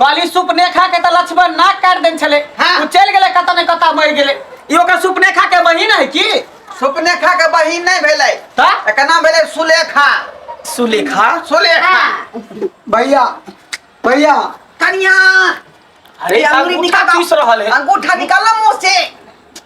कहली सुपनेखा के त लक्ष्मण नाक काट देन छले हाँ। उ चल गेले कत ने कत मर गेले ई ओकर सुपनेखा के बहिन है की सुपनेखा के बहिन नहीं भेलै त एकर नाम भेलै सुलेखा सुलेखा सुलेखा भैया भैया कनिया अरे ये अंगुली अंगूठा निकाल- पीस रहल है अंगूठा निकाल मुंह से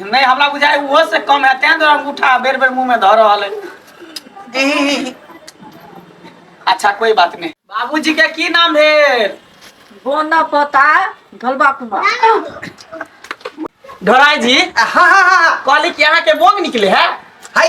नहि हमरा बुझाय ओहो से कम है तें द्वारा अंगूठा बेर बेर मुंह में धऽ रहल है ई, अच्छा कोई बात नहीं बाबूजी के की नाम है बोना पता गलबा कुमार ढोराई जी हाँ हाँ हाँ कहली कि यहाँ के बोंग निकले है हाय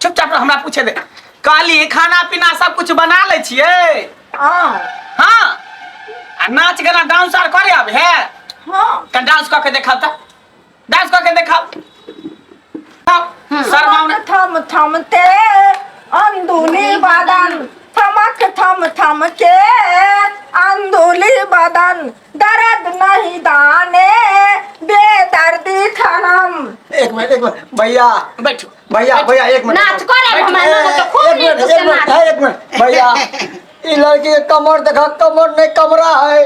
चुपचाप रह, हमरा पूछे दे कहली खाना पीना सब कुछ बना ले छिए हाँ हाँ आ नाच गाना डांस आर करे अब है हाँ त डांस क के देखाओ त डांस क के देखाओ शर्माओ ना थम थम ते अंदुली बदन थमक थम थम के अंदुली बदन दर्द नहीं दाने बेदर्दी खनम एक मिनट एक मिनट भैया बैठो भैया भैया एक मिनट नाच करे बैठ, हमारे ए, तो खूब एक नीक मिनट से एक मिनट नाच है, एक मिनट भैया ई लड़की के कमर देखा कमर नहीं कमरा है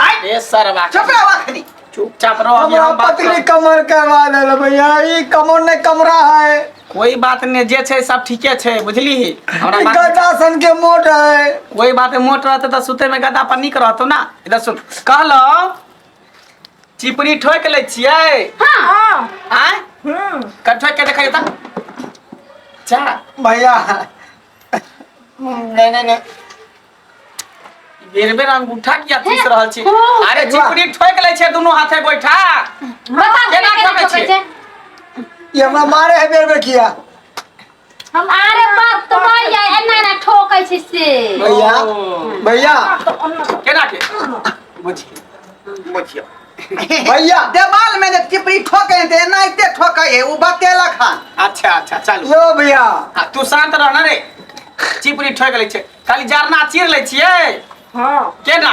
आय ए सरवा चुप रहो अखनी चुपचाप रहो अभी हमरा हम बात पत्नी करब। कमर करवा देल भैया ई कमर नहीं कमरा है कोई बात नहीं जे छै सब ठीके छै बुझली हमरा ई बात गदा सन के मोट है कोई बात नहीं, मोट रहते तो सुते में गदा पर निक रहतो ना इधर सुन कहलो चिपड़ी ठोक ले छियै हाँ आय हम्म कर ठोक के देखा जाता जा भैया नहीं नहीं नहीं बेर बेर अंगूठा किया पीस रहल छी हाँ। अरे चिपड़ी ठोक ले छै दुनू हाथे बैठा बता केना केना ठोकै ठोकै छै? छै ये हमरा मारे है बेर बेर किया हम अरे बात तो भैया एना ना ठोकै छी से भैया भैया केना के बुझिए बुझिए भैया देवाल में जे चिपड़ी ठोके हैं तो एनाहिते ठोके है वो बतेला खान अच्छा अच्छा चलू यो भैया आ, तू शांत रह ना रे चिपरी ठोक लै छै खाली जरना चीर लै छियै हाँ केना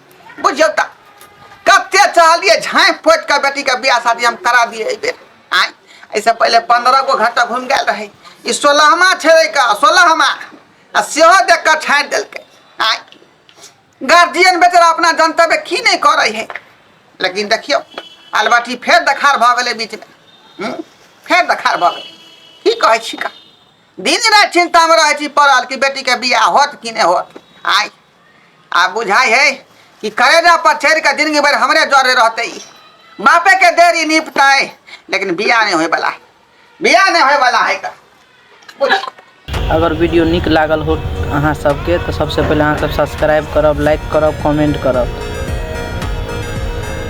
बुझियौ तऽ कते चाहलिए झाँपि पोति कऽ बेटीके बियाह शादी हम करा दिए एहि बेर आँय एहिसँ पहिले पंद्रह गो घंटा घुमि गेल रहै ई सोलहमा छेड़े कऽ सोलहमा आ सेहो देख कऽ छाँटि देलकै आँय गार्जियन बेचारा अपना जनतव्य की नहि करै है लेकिन देखियौ अलबटी फेर देखार भऽ गेलै बीचमे हम्म? फेर देखार भऽ गेलै की कहै छी का दिन राति चिन्तामे रहै छी पड़ल कि बेटीके बियाह होत कि नहि होत आँय आ बुझाइ है कि करेजा पर चढ़ के जिंदगी भर हमरे जरे रहते बापे के देरी निपता है लेकिन बिया नहीं होए वाला है बिया नहीं होए वाला है का अगर वीडियो निक लागल हो अहाँ सबके तो सबसे पहले अहाँ सब सब्सक्राइब करब लाइक करब कमेंट करब